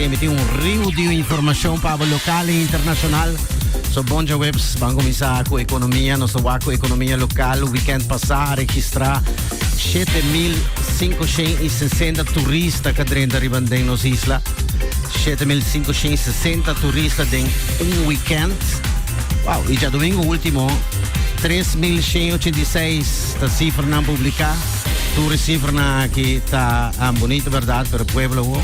Mi tin un riu di informacion pa bo local y internacional. So bon dja webs, ban cominsa cu economia. Nos ta wak cu economia local. Weekend pasa a registra 7,560 turista ca drenta riba den nos isla. 7,560 turista den un weekend. Wow, y dja domingo ultimo 3,186 ta cifra nan publica. Tur e cifra nan aki ta bonito, verdad? Pero pueblo,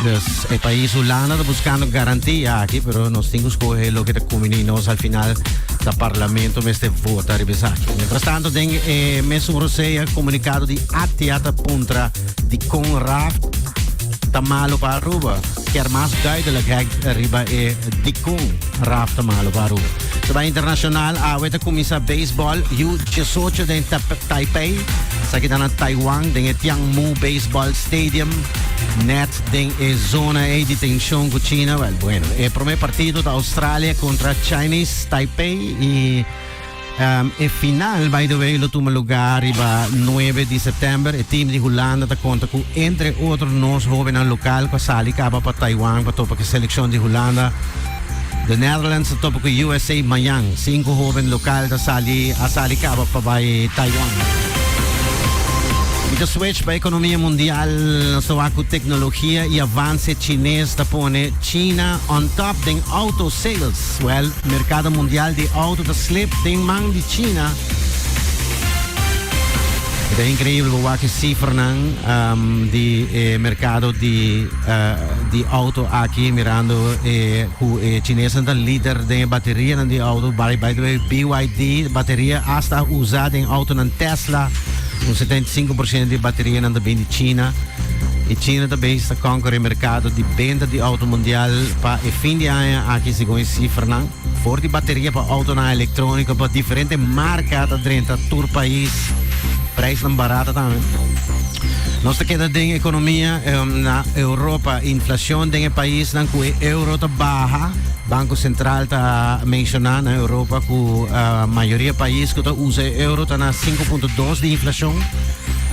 Dus e pais Hulanda ta buscando garantia aki, pero nos tin cu scoge lo que ta conveni nos al final ta parlamento mester vota riba esaki. Mientras tanto, den e mes un rosea comunicado di ATIA ta puntra di CONRAF ta malo pa Aruba. Kier mas duidelijkheid riba e di CONRAF ta malo pa Aruba. Terwijl internacional awe ta comienza baseball U18 den Tap- Taipei. Sa kita na Taiwan den e Tianmu Baseball Stadium. Net den e zona ei di tenshon ku China, wèl bueno, e promé partido ta Australia kontra Chinese Taipei i Um, e final, by the way, lo tuma lugar riba 9 di september. E team di Hulanda ta conta cu, entre otro, nos jovenan local pa sali caba pa Taiwan pa topa que seleccion di Hulanda The Netherlands ta topa ku usa mañan. Sinku hoben lokal ta sali a sali kaba pa bai Taiwan. Mi ta switch pa ekonomia mundial asoa ku teknologia i avanse chines ta pone China on top den auto sales. Well, merkado mundial di auto ta slip den man di China. Eta increíble bo wak e cifernan di e mercado di di auto aki mirando e ku e chinesnan ta lider den e baterianan di auto. By, by the way, BYD bateria hasta a usa den autonan Tesla. Un 75% di baterianan ta bin di China. E China ta bezig ta conquer e mercado di benta di auto mundial pa e fin di aña aki segun e cifranan. For di bateria pa autonan electronico pa diferente marca ta drenta tur país. Prijsnan barata también. Nos te queda den economia eh, na Europa. Inflación den e país nan cu e euro ta baja. Banco Central ta menciona na Europa cu uh, eh, mayoría país cu ta usa e euro ta na 5.2 de inflación.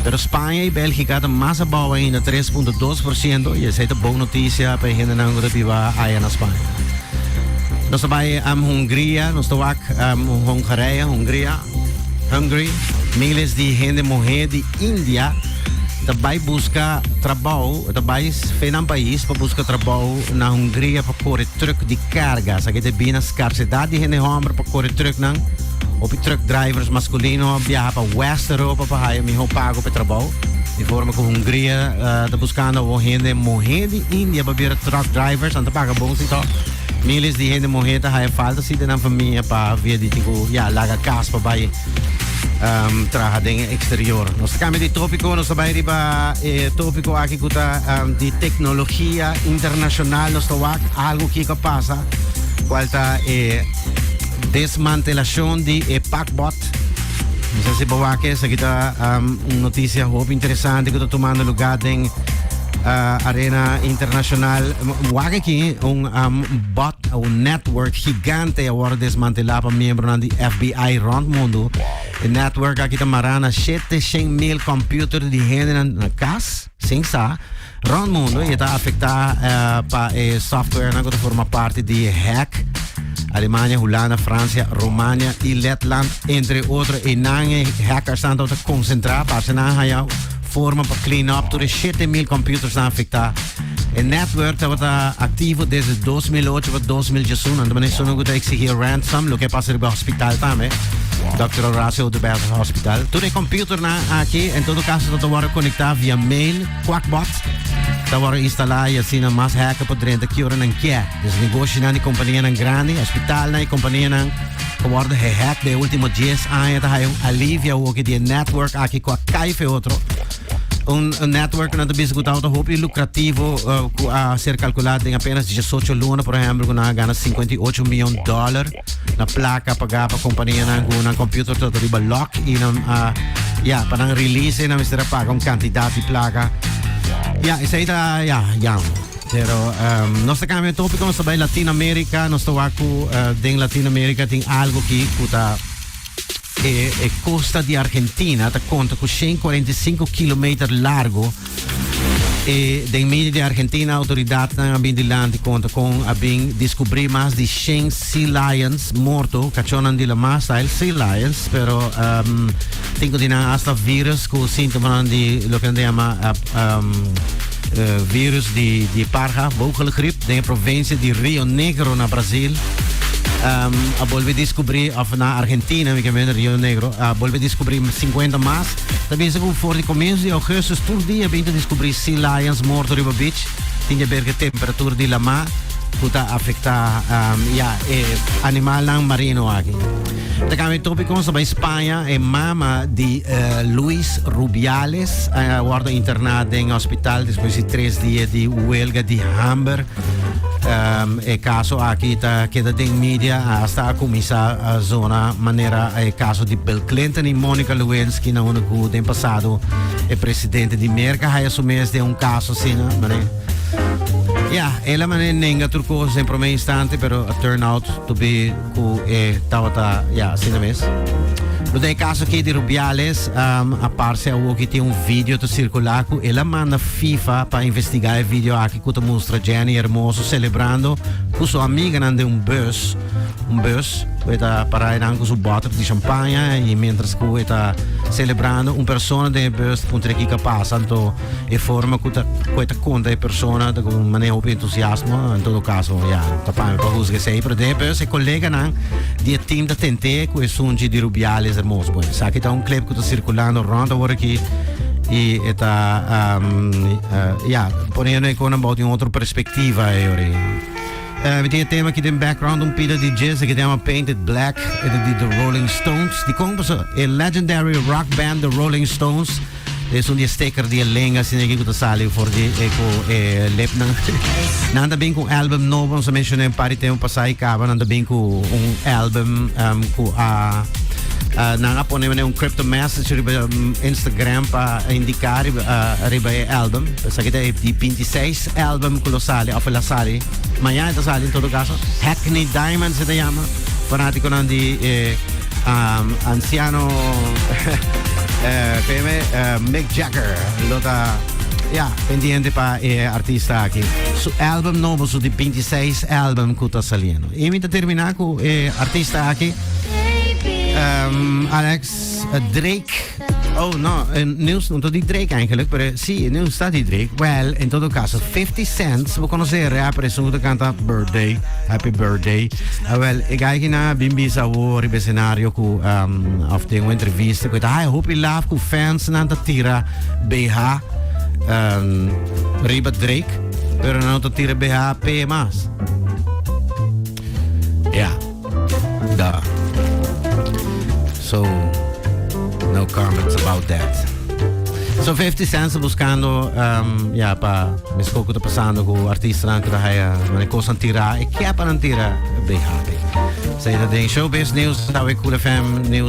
Pero Spanje i Belgika ta mas abou ainda 3.2% i esei ta bon noticia pa e hende nan ku ta biba aya na Spanje. Nos bai um, Hungria, nos te wak um, Hongarije, Hungria, Hungary. Miles di hende muhe di India te bai buska trabou, te bai fenan pais pa buska trabou na Hungria pa kore truk di karga. Sa ki te bina skarsedat di hende homber pa kore truk nan. Opi truk drivers maskulino biaha pa West Europa pa haya miho pago pa trabou. Di forma ku Hungria uh, ta buskando o hende mohe di India pa bira truck drivers anta paga bon si to. Miles di hende mohe ta haya falta si den familia pa via di tiku ya laga kas pa bai um, traha den exterior. Nos kami di topiko, nos bai riba eh, topiko aki kuta um, di teknologia internasional nos tawak algo ki ka pasa kual ta eh, desmantelacion di eh, pakbot Nos a sipa wak esaki ta um, un noticia hoop interesante que está tomando lugar den uh, arena internacional. Wak aquí un um, bot, un network gigante ahora desmantelado para miembros de FBI rond mundo. El network aquí está marana 700 mil computers de gente en la casa. Sin sa, rond mundo e ta afecta pa e softwarenan cu ta forma parti di e hack. Alemania, Hulanda, Francia, Romania y Letland, entre otro, e nan e hackersnan ta ta concentra. Parse nan a haya forma pa clean up tur e shete mil computersnan afecta. E network tabata activo desde 2008 pa 2011, anto manera esun cu ta exigi e ransom, loke a pasa riba hospital tambe, Dòkter Horacio Oduber Hospital. Tur e computernan Aki en todo caso ta ta worde conecta via mail Quackbot ta worde instala y asina mas hacker por drenta ki ora nan kier. Dus negoshinan y companianan grandi, hospitalnan y companianan ta worde gehack den e ultimo dies aña ta haya un alivia hoki di e network aki cu a cay fe otro. Un network cu nan ta bisa cu ta hopi lucrativo cu a ser calcula den apenas diesocho luna por ehempel cu nan a gana singenta i ocho mion dollar. na placa paga pa compañía nan cu nan computer todo riba lock y nan uh, ya pa nan release nan mister paga un cantidad de placa ya esa ita ya ya pero um, nos cambia tópico nos bij Latinoamérica nos toa cu uh, den Latinoamérica tin algo ki puta E costa di Argentina ta conta cu 145 kilometer largo. E den medio di Argentina autoridadnan a bin di lanti conta con a bin descubri mas di 100 sea lions morto, cachonnan di la mar style sea lions, pero um, tin cu di nan hasta virus cu sintomanan di lo que nan ta llama uh, um, virus di parha, vogelgriep, den e provinsia di Rio Negro na Brasil. a bolbe diskubri, òf na Argentina, mi ke mende Rio Negro, a bolbe diskubri sinkuenta mas. Ta bisa ku for di komiensu di Ougustus tur di a bin ta diskubri sea lions morto riba beach. Tin ke ber ku e temperatur di lamá ku ta afektá, ya, e animalnan marino aki. Ta cambia tópico, so bai Spanje, e mama di Luis Rubiales a wordo interná den hospital despues di tres dia di huelga di hamber. E caso aki ta keda den media hasta a kuminsá zona manera e caso di Bill Clinton i Monica Lewinsky na unda ku den pasado e presidente di Merka haya su mes den un caso asina, mané. Ya, ela mané nenga tur cos den promé instante pero a turn out to be ku e tabata ya asina mes. No ten e kaso aki di Rubiales, um, a parse awoki tin un video ta sirkulá ku el a manda FIFA pa investigá e video aki ku ta mustra Jenny Hermoso selebrando ku su amiganan den un bus, un bus ku e ta pará enan ku su bottle di champaña i mientras ku e ta selebrando un persona den e bus puntra ki ka pasa anto e forma cu ta cu e ta conta e persona ta con mane hopi entusiasmo en todo caso ya ta pami pa huzga esei pero den pues e coleganan di e team ta tente cu e sunchi di rubiales hermoso bueno esaki ta un clip cu ta circulando rond awor aki y e ta ya poniendo e conan bou di un otro perspectiva e ora Eh, mi tin e tema aquí den background un pida di jazz que se llama Painted Black, e di The Rolling Stones. Di con pues, e legendary rock band The Rolling Stones Esun di e steker di e lenga asina aki ku ta sali for di e ku e lepnan. Nan ta bin ku un album nobo, nos a menshoná un par di tempu pasá i kaba. Nan ta bin ku un album ku a nan a pone un crypto message riba Instagram pa indiká riba e album. Esaki ta e di binti seis album ku lo sali òf el a sali mañana. E ta sali en todo kaso. Hackney Diamonds e ta yama. Fanátikonan di e. Um, anciano PM eh, eh, Mick Jagger lo ta ya pendiente pa e eh, artista aquí. Su album novo, su di 26 album que está saliendo. Y mientras termina con e eh, artista aquí, um, Alex Drake. Oh, no, eh, nieuws no di Drake eigenlijk, pero sí, el nieuws está di Drake. Well, en todo caso, 50 Cent, we conocen el rapper, es un canta Birthday, Happy Birthday. Uh, well, ik ga hier naar Bimbi Sawo, op het scenario, ku, um, of de een interview, ik weet, hij hoop je laaf, ku fans, na dat tira, BH, um, Riba Drake, pero na dat tira BH, PMA's. Ja. Yeah. Dar. So, no comments about that. So 50 Cent buscando um, ehm, ya pa misco que está pasando con artistas que está haya una cosa tira y que para tira be happy. Say that in showbiz news, Cool FM news.